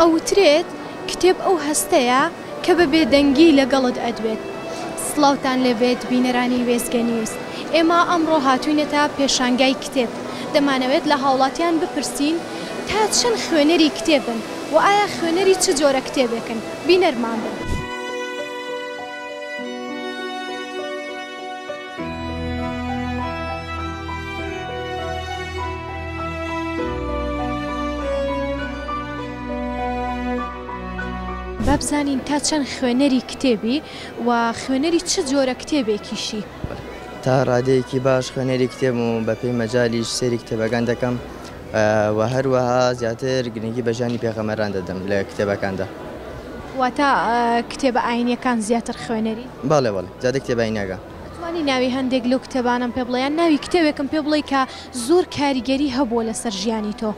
ئەوترێت کتێب ئەو هەستەیە، کە بە بێدەنگی لەگەڵت ئەدوێت. سڵاوتان لێبێت بینەرانی وێستگە نیوز. ئێمە ئەمڕۆ هاتووینەتە پێشانگای کتێب. دەمانەوێت لە هاوڵاتیان بپرسین تا چەند خوێنەری کتێبن و ئایا خوێنەری چ جۆرە کتێبێکن؟ بینەرمان بن. با بزانین تا چەند خوێنەری کتێبی و خوێنەری چ جۆرە کتێبێکیشی؟ تا ڕادەیەکی باش خوێنەری کتێبم و بەپێی مەجالیش سەیری کتێبەکان دەکەم، وە هەروەها زیاتر گرنگی بە ژیانی پێغەمبەران دەدەم لە کتێبەکاندا. واتە کتێبە ئاینیەکان زیاتر خوێنەری؟ بەڵێ بەڵێ زیاتر کتێبە ئاینیەکان. ئەتوانی ناوی هەندێک لەو کتێبانەم پێ بڵێ یان ناوی کتێبێکم پێ بڵێ کە زۆر کاریگەری هەبووە لەسەر ژیانی تۆ؟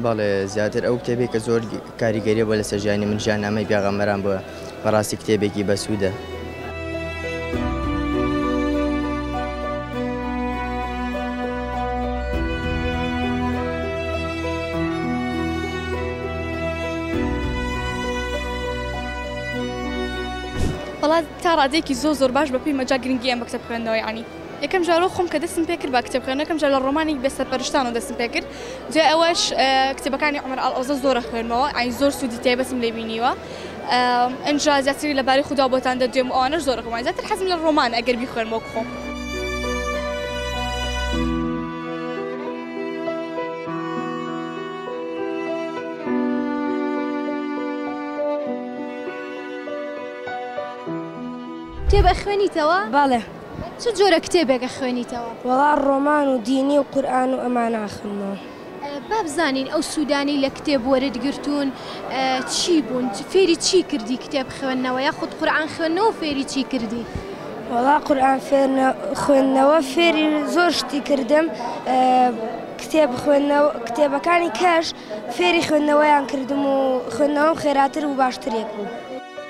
بەڵێ زیاتر ئەو کتێبەی کە زۆر کاریگەری بووە لەسەر ژیانی من ژیان نامەی پێغەمبەران بووە. بەڕاستی کتێبێکی بەسوودە. وەڵا تا ڕادەیەکی زۆر زۆر باش بە پێی مەجا گرنگی ئەم بە کتێب خوێندنەوەی عنی. یەکەم جار وەک خۆم کە دەستم پێ کرد با کتێب خوێندنەوە کەم جار لە ڕۆمانی بێ سەرپەرشتانەوە دەستم پێ کرد، جێ ئەوەش کتێبەکانی عومەر ئاڵئۆزە زۆر ئەخوێنمەوە، یانی زۆر سوودی تایبەتم لێ بینیوە. ئینجا زیاتر لەبارەی خودا بۆتان دەدوێم و ئەوانەش زۆر ئەخوێنمەوە، زیاتر حەزم لە ڕۆمانە ئەگەر بیخوێنم وەک خۆم. کتێب ئەخوێنیتەوە؟ بەڵێ. چ جۆرە کتێبێک ئەخوێنیتەوە؟ وەڵا ڕۆمان و دینی و قورئان و ئەمان ئاخنمەوە. با بزانین ئەو سوودانەی لە کتێب وەرت گرتوون چی بوون؟ فێری چی کردی کتێب خوێندنەوە یاخود قورئان خوێندنەوە فێری چی کردی؟ وەڵا قورئان خوێندنەوە فێری زۆر شتی کردم کتێب خوێندنەوە کتێبەکانی کەش فێری خوێندنەوەیان کردم و خوێندنەوەم خێراتر و باشترێک بوو.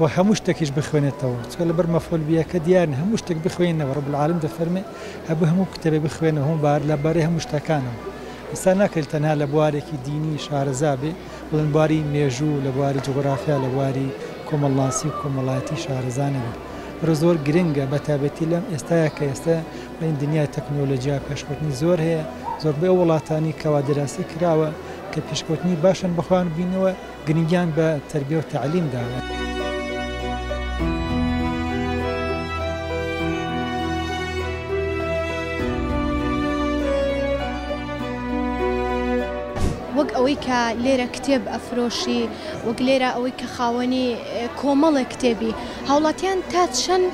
و هەموو شتەکیش بخوێنێتەوە چونکە لەبەر مەفعول بیەکە دیارن هەموو شتێک بخوێنی نەوە رب العالمین دەفەرمێ هەبوو هەموو کتێبێ بخوێنەوە هەموو بار لەبارەی هەموو شتەکانەوە ئینسان ناکرێت تەنها لە بوارێکی دینی شارەزا بێ بڵێن بواری مێژوو لە بواری جوغرافیا لە بواری کۆمەڵناسی و کۆمەڵایەتی شارەزا نەبێ بەرە زۆر گرنگە بە تابێتی لەم ئێستاە کە ئێستا بڵین دنیای تەکنۆلۆژیا پێشکەوتنی زۆر هەیە زۆربەی ئەو وڵاتانی کەوا دراسی کراوە کە پێشکەوتنی باشن بەخۆیان بینەوە گرنگیان بە تەربیە و تەعلیم داوە. وەک ئەوەی کە لێرە کتێب ئەفرۆشی، وەک لێرە ئەوەی کە خاوەنی کۆمەڵێک کتێبی، هاوڵاتیان تا چەند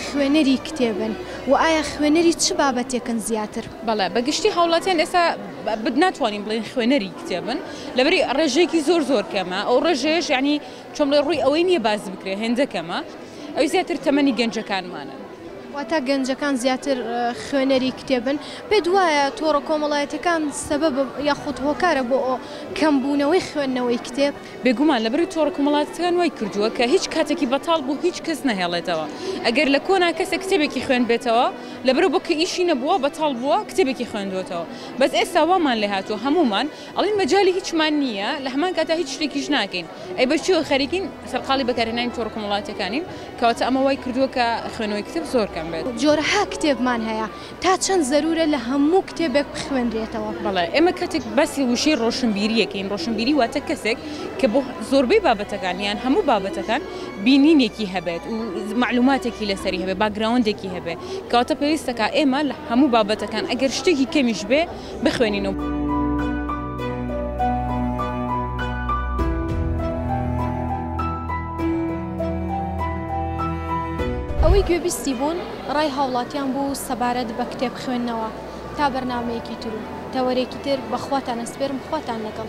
خوێنەری کتێبن و ئایا خوێنەری چ بابەتێکن زیاتر؟ بەڵێ بە گشتی هاوڵاتیان ئێستا ناتوانین بڵێین خوێنەری کتێبن، لەبری ڕێژەیەکی زۆر زۆر کەمە ئەو ڕێژەیەش یعنی چۆن بڵێ ڕووی ئەوەی نییە باس بکرێ هێندە کەمە ئەوی زیاتر تەمەنی گەنجەکانمانن. واتە گەنجەکان زیاتر خوێنەری کتێبن پێت وایە تۆڕە کۆمەڵایەتیەکان سەبەب یاخود هۆکارە بۆ کەم بوونەوەی خوێندنەوەی کتێب؟ بێگومان لەبری تۆڕە کۆمەڵاتیەکان وای کردووە کە هیچ کاتێکی بەتاڵ بۆ هیچ کەس نەهێڵێتەوە ئەگەر لە کۆنا کەسێک کتێبێکی خوێندبێتەوە لەبەرئەوە کە ئیشی نەبووە بەتاڵ بووە کتێبێکی خوێندووەتەوە بەس ئێستا وامان لێهاتووە هەموومان ئەڵێن مەجالی هیچمان نییە لە هەمان کاتدا هیچ شتێکیش ناکەین ئەی بەچیەوە خەریکین سەرقاڵی بەکارهێنانی تۆڕە کۆمەڵاتیەکانین کەواتە ئەمە وای کردووە کە خوێنەوەی کتێب زۆر کەم بێت. جۆرەها کتێبمان هەیە تا چەند زەروورە لە هەموو کتێبێک بخوێنرێتەوە؟ بەڵێ ئێمە کاتێک باسی وشەی ڕۆشنبیری یەکەین ڕۆشنبیری واتە کەسێک کە بۆ زۆربەی بابەتەکان یان هەموو بابەتەکان بینینێکی هەبێت و مەعلوماتێکی لەسەری هەبێت باکگراوندێکی هەبێت کەواتە پێویستەکا ئێمە لە هەموو بابەتەکان ئەگەر شتێکی کەمیش بێ بخوێنین و. ئەوەی گوێبیستی بوون ڕای هاوڵاتیان بوو سەبارەت بە کتێب خوێندنەوە تا بەرنمەیەکی تر و تەوەرێکی تر بەخواتان ئەسپێرم خواتان لەگەڵ.